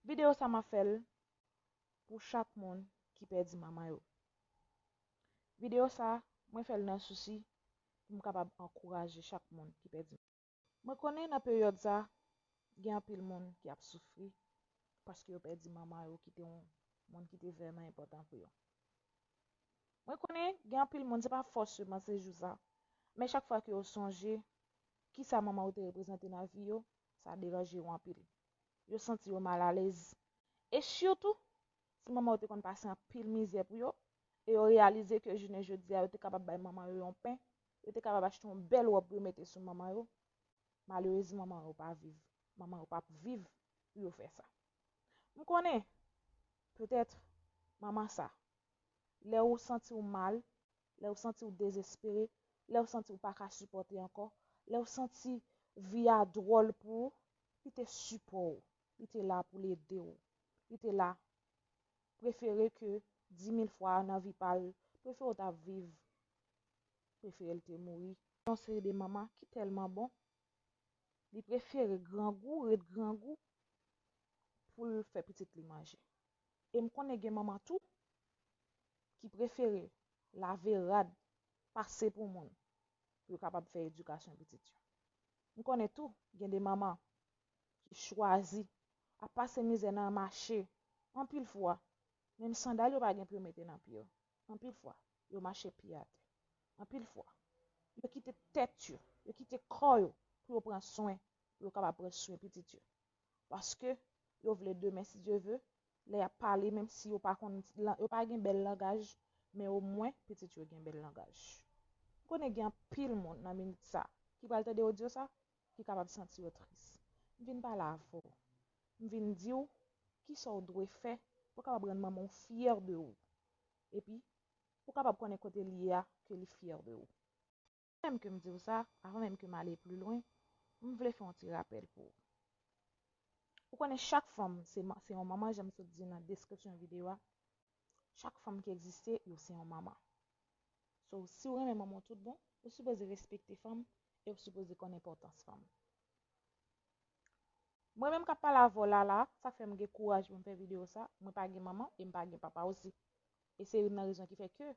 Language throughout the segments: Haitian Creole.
Video sa map fèl pou chak moun ki pèdi manman yo. Video sa mwen fèl nan sousi pou m kapab ankouraje chak moun ki pèdi manman. Mwen konnen nan peryòd sa gen anpil moun ki ap soufri paske yo pèdi manman yo ki te yon moun ki te vrèman enpòtan pou yo. Mwen konnen gen anpil moun se pa fòseman se jou sa men chak fwa ke yo sonje kisa manman yo te reprezante nan vi yo sa deranje yo anpil. yo santi yo mal alèz. E sitou, si manman yo te konn pase anpil mizè pou yo, e yo reyalize ke jounen jodi a yo te kapab bay manman yo yon pen, yo te kapab achte yon bèl wòb pou yo mete sou manman yo, malerezman manman yo pa viv, manman yo pap viv pou yo fè sa. M konnen, petèt, manman sa, lè ou santi ou mal, lè ou santi ou dezespere, lè ou santi ou pa ka sipòte ankò, lè ou santi vi a dwòl pou ou, li te sipò ou, li te la pou l ede ou, li te la prefere ke dimil fwa nan vi pa l, prefere ou ta viv, prefere l te mouri. Yon seri de manman ki tèlman bon, li prefere grangou ret grangou pou l fè pitit li manje. E m konnen gen manman tou ki prefere lave rad pase pou moun. pou yo kapab fè edikasyon pitit yo. M konnen tou gen de manman ki chwazi ap pase mizè nan mache anpil fwa menm sandal yo pa gen pou yo mete nan pye yo, anpil fwa yo mache pye atè, anpil fwa yo kite tèt yo, yo kite kò yo pou yo pran swen pou yo kapab pran swen pitit yo. paske yo vle demen si Dye ve lè yap pale menm si yo pa konn yo pa gen bèl langaj men o mwen pitit yo gen bèl langaj m konnen gen anpil moun nan minit sa ki pral tande odyo sa ki kapab santi yo tris m vin pale avè w m vin di w kisa w dwe fè pou w kapab rann manman w fyè de ou epi pou w kapab konnen kote li ye a ke li fyè de ou. Avan menm ke m di w sa, avan menm ke m ale pli lwen, m vle fè yon ti rapèl pou ou. Ou konnen chak fanm se yon manman jan m sot di nan deskripsyon videyo a, chak fanm ki egziste yo se yon manman. So, si w renmen manman w tout bon, ou sipoze respekte fanm e w sipoze konn enpòtans fanm. Mwen menm k ap pale avè w la la a, sa k fè m gen kouraj pou m fè videyo sa, mwen pa gen manman e m pa gen papa osi. E se youn nan rezon ki fè ke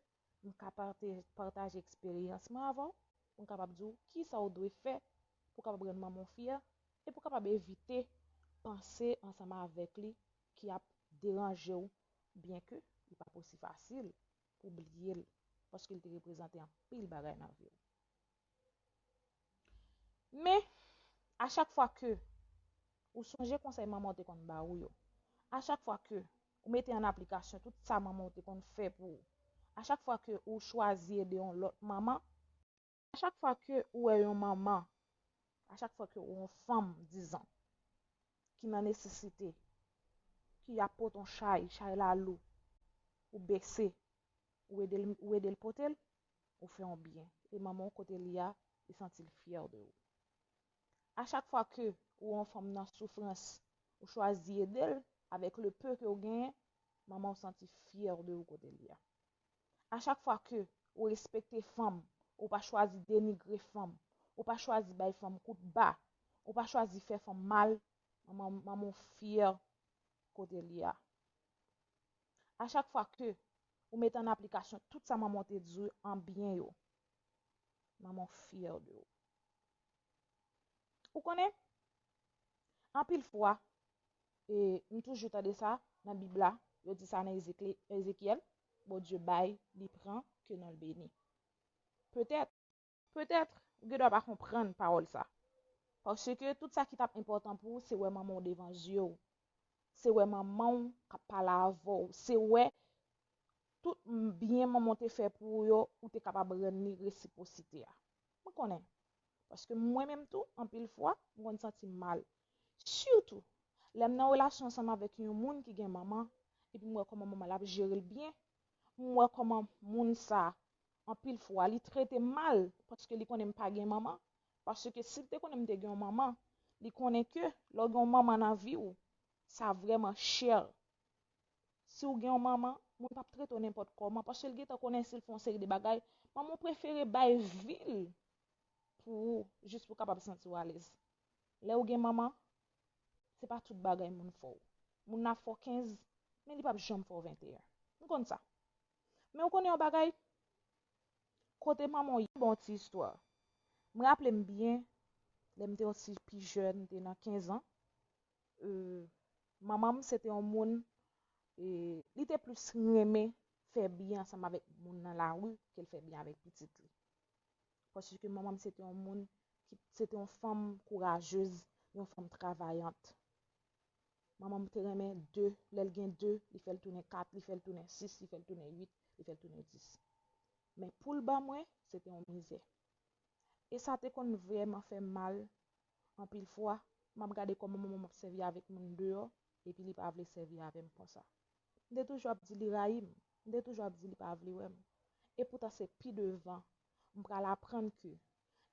m ka pataje eksperyans mwen avè w pou m kapab di w kisa w dwe fè pou w kapab rann manman w fyè e pou w kapab evite panse ansanm avèk li ki ap deranje w byenke li pa p osi fasil pou w bliye l paske li te reprezante anpil bagay nan vi w. Men, a chak fwa ke ou sonje konsèy manman ou te konn ba ou yo, a chak fwa ke ou mete an aplikasyon tout sa manman ou te konn fè pou ou, a chak fwa ke ou chwazi ede yon lòt manman, a chak fwa ke ou wè yon manman, a chak fwa ke ou wè yon fanm dizan ki nan nesesite, ki ap pote yon chay, chay la lou, ou bese, ou ede l pote l. ou fè yon byen e manman w kote li a li santi l fyè de ou. A chak fwa ke ou wè yon fanm nan soufrans ou chwazi ede l avèk le peu ke ou genyen manman w santi fyè de ou kote li a. A chak fwa ke ou respekte fanm ou pa chwazi denigre fanm ou pa chwazi bay fanm kout ba ou pa chwazi fè fanm mal manman w fyè kote li a. A chak fwa ke ou mete an aplikasyon tout sa manman w te di w an byen yo, manman w fyè de ou. Ou konnen, anpil fwa, e m toujou tande sa nan Bib la, yo di sa nan Ezekyèl, Bondye bay, li pran, ke non l beni. Petèt. Petèt, ou gendwa pa konprann pawòl sa. Paske, tout sa ki t ap enpòtan pou ou, se wè manman w devan zye w. Se wè manman w k ap pale avè w. Se wè tout byen manman w te fè pou ou yo, ou te kapab rann li resipwosite a. Mwen konnen. Paske mwen menm tou, anpil fwa, m konn santi m mal. Sitou, lè m nan relasyon ansanm avèk yon moun ki gen manman, epi m wè kòman manman l ap jere l byen, m wè kòman moun sa a anpil fwa li trete m mal paske li konnen m pa gen manman paske si l te konnen m te gen yon manman li konnen ke lè w gen yon manman nan vi w sa vrèman chè si w gen yon manman moun pap trete w nenpòt kòman paske l gentan konnen si l fè yon seri de bagay manman w prefere bay vi l pou ou jis pou w kapab santi w alèz lè w gen manman se pa tout bagay moun fè w moun nan ap fè w kenz men li pap janm fè w venteyen m konn sa. Men ou konnen yon bagay? Kote manman w ye bon ti istwa. M raple m byen, lè m te yon ti pi jèn, m te nan kenzan, manman m se te yon moun, li te plis renmen fè byen ansanm avèk moun nan lari ke l fè byen avèk pitit li. Paske manman m se te yon moun, se te yon fanm kourajez, yon fanm travayant. Manman m te renmen 2, lè l gen 2, li fè l tounen 4, li fè l tounen 6, li fè l tounen 8, li fè l tounen 10. Men pou l ban mwen, se te yon mizè. E sa te konn vrèman fè m mal anpil fwa, m ap gade kòman manman m ap sèvi avèk moun deyò, epi li pa vle sèvi avè m konsa. M te toujou ap di li rayi m, m te toujou ap di li pa vle wè m. Epoutan se pi devan, m pral aprann ke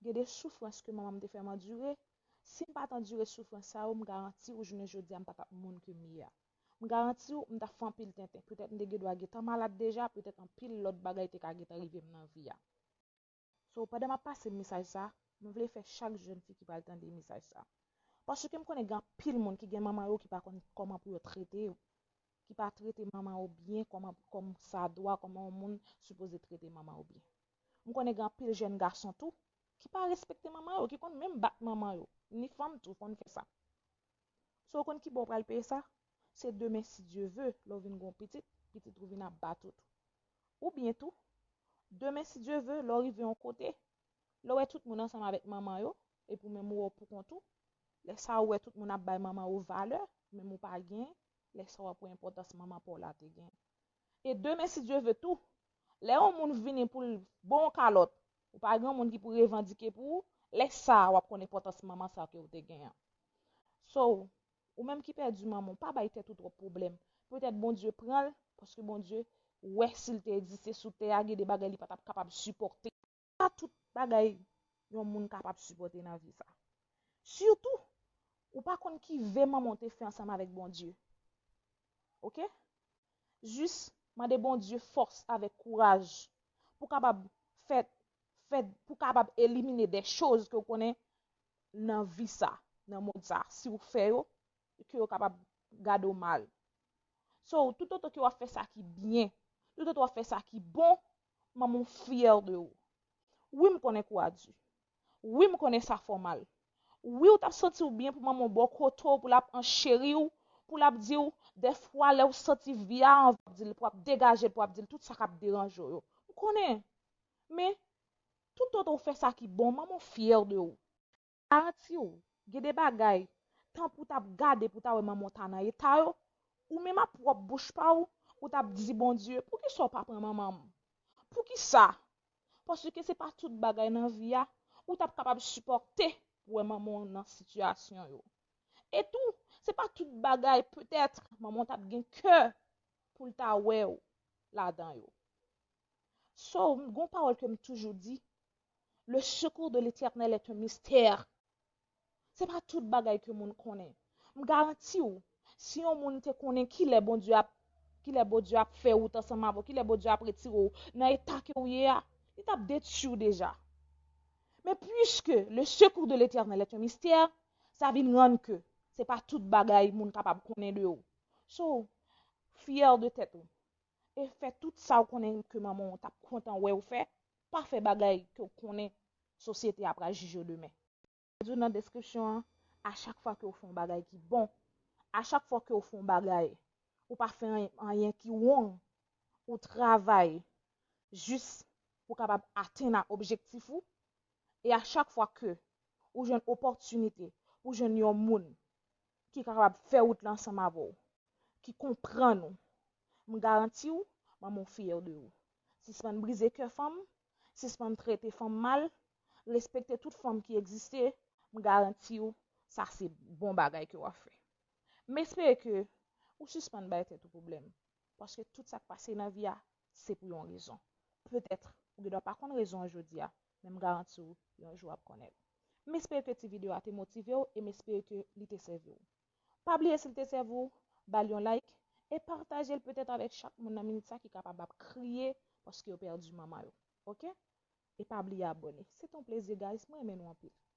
Gen de soufrans ke manman m te fè m andire, si m pa t andire soufrans sa yo m garanti w jounen jodi a m pa t ap moun ke m ye a. M garanti w m t ap fè anpil tenten, petèt m te gendwa gentan malad deja, petèt anpil lòt bagay te ka gentan rive m nan vi a. So, pandan m ap pase mesaj sa, m vle fè chak jèn fi ki pral tande mesaj sa. Paske m konnen gen anpil moun ki gen manman yo ki pa konn kòman pou yo trete yo, ki pa trete manman yo byen kòman, kòm sa dwa, kòman yon moun sipoze trete manman yo byen. M konnen gen anpil jèn gason tou ki pa respekte manman yo, ki konn menm bat manman yo, ni fanm tou konn fè sa. So ou konn kibò ou pral peye sa? Se demen si Dye ve, lè ou vin gen yon pitit, pitit ou vin ap bat ou tou. Oubyen tou, demen si Dye ve, lè ou rive yon kote, lè ou wè tout moun ansanm avèk manman yo, epi ou menm ou wè ou poukont ou, lè sa ou wè tout moun ap bay manman yo valè, menm ou pa gen, lè sa w ap wè enpòtans manman pa w la te gen. e demen si Dye ve tou, lè yon moun vini pou l ba w yon kalòt, ou pa gen yon moun ki pou revandike pou ou, lè sa a w ap konn enpòtans manman sa ke w te gen an. So, ou menm ki pèdi manman w, pa bay tèt ou twòp pwoblèm. Petèt Bondye pran l, paske Bondye wè si l te egziste sou tè a gen de bagay li pa t ap kapab sipòte. pa tout bagay yon moun kapab sipòte nan vi sa. Sitou, ou pa konn ki ve manman w te fè ansanm avèk Bondye. Ok? Jis mande Bondye fòs avèk kouraj pou w kapab fè, fè, pou w kapab elimine dè choz ke w konnen nan vi sa, nan mond sa, si w fè yo, ke yo kapab gade w mal. So, toutotan ke w ap fè sa ki byen, toutotan w ap fè sa ki bon, Manman w fyè de ou. Wi m konnen kou a di. Wi m konnen sa fè w mal. Wi w t ap santi w byen pou manman w ba w kote w pou l ap ancheri w, pou l ap di w, dèfwa lè w santi vi a anvi w ap di l, pou w ap degaje l, pou w ap di l tout sa k ap deranje w yo. M konnen. Men, toutotan w fè sa ki bon, manman w fyè de ou. Garantiw gen de bagay tan pou tap gade pou ta wè manman w ta nan eta yo ou menm ap pwòp bouch pa w ou tap di Bondye poukisa w pa pran manman m poukisa paske se pa tout bagay nan vi a ou tap kapab sipòte pou wè manman w nan sitiyasyon yo e tou se pa tout bagay petèt manman w tap gen kè poul ta wè w ladan yo. So, m gon pawòl ke m toujou di, Le secours de l'Eternel est un mystère. Se pa tout bagay ke moun konnen. M garanti w, si yon moun te konnen kilè Bondye ap, kilè Bondye ap fè wout ansanm avè w, kilè Bondye ap retire w nan eta ke w ye a, li tap detui w deja. Men puiske le secours de l'Eternel est un mystère, sa vin rann ke se pa tout bagay moun kapab konnen de w. So, fyè de tèt ou. e fè tout sa ou konnen ke manman ou tap kontan wè ou fè, pa fè bagay ke ou konnen sosyete a pral jije ou demen. Mwen di ou nan deskripsyon an, a chak fwa ke ou fè yon bagay ki bon, a chak fwa ke ou fè yon bagay, ou pa fè anyen ki wong, ou travay jis pou kapab atenn a objektif ou, e a chak fwa ke ou jwenn opòtinite pou jwenn yon moun ki kapab fè wout la ansanm avè ou, ki konprann ou m garanti w manman w fyè de ou sispann brize kè fanm sispann trete fanm mal respekte tout fanm ki egziste m garanti w sa se bon bagay ke wap fè m espere ke ou sispann bay tèt ou pwoblèm paske tout sak pase nan vi a se pou yon rezon petèt ou gen dwa pa konn rezon an jodi a men m garanti w yon jou wap konnen l m espere ke ti video a te motive w e m espere ke li te sèvi w. Pa bliye sil te sèvi w bal yon like e patajel petèt avèk chak moun nan minit sa ki kapab ap kriye paske yo pèdi manman yo ok e pa bliye abone se te yon plezi guys mwen renmen nou anpil.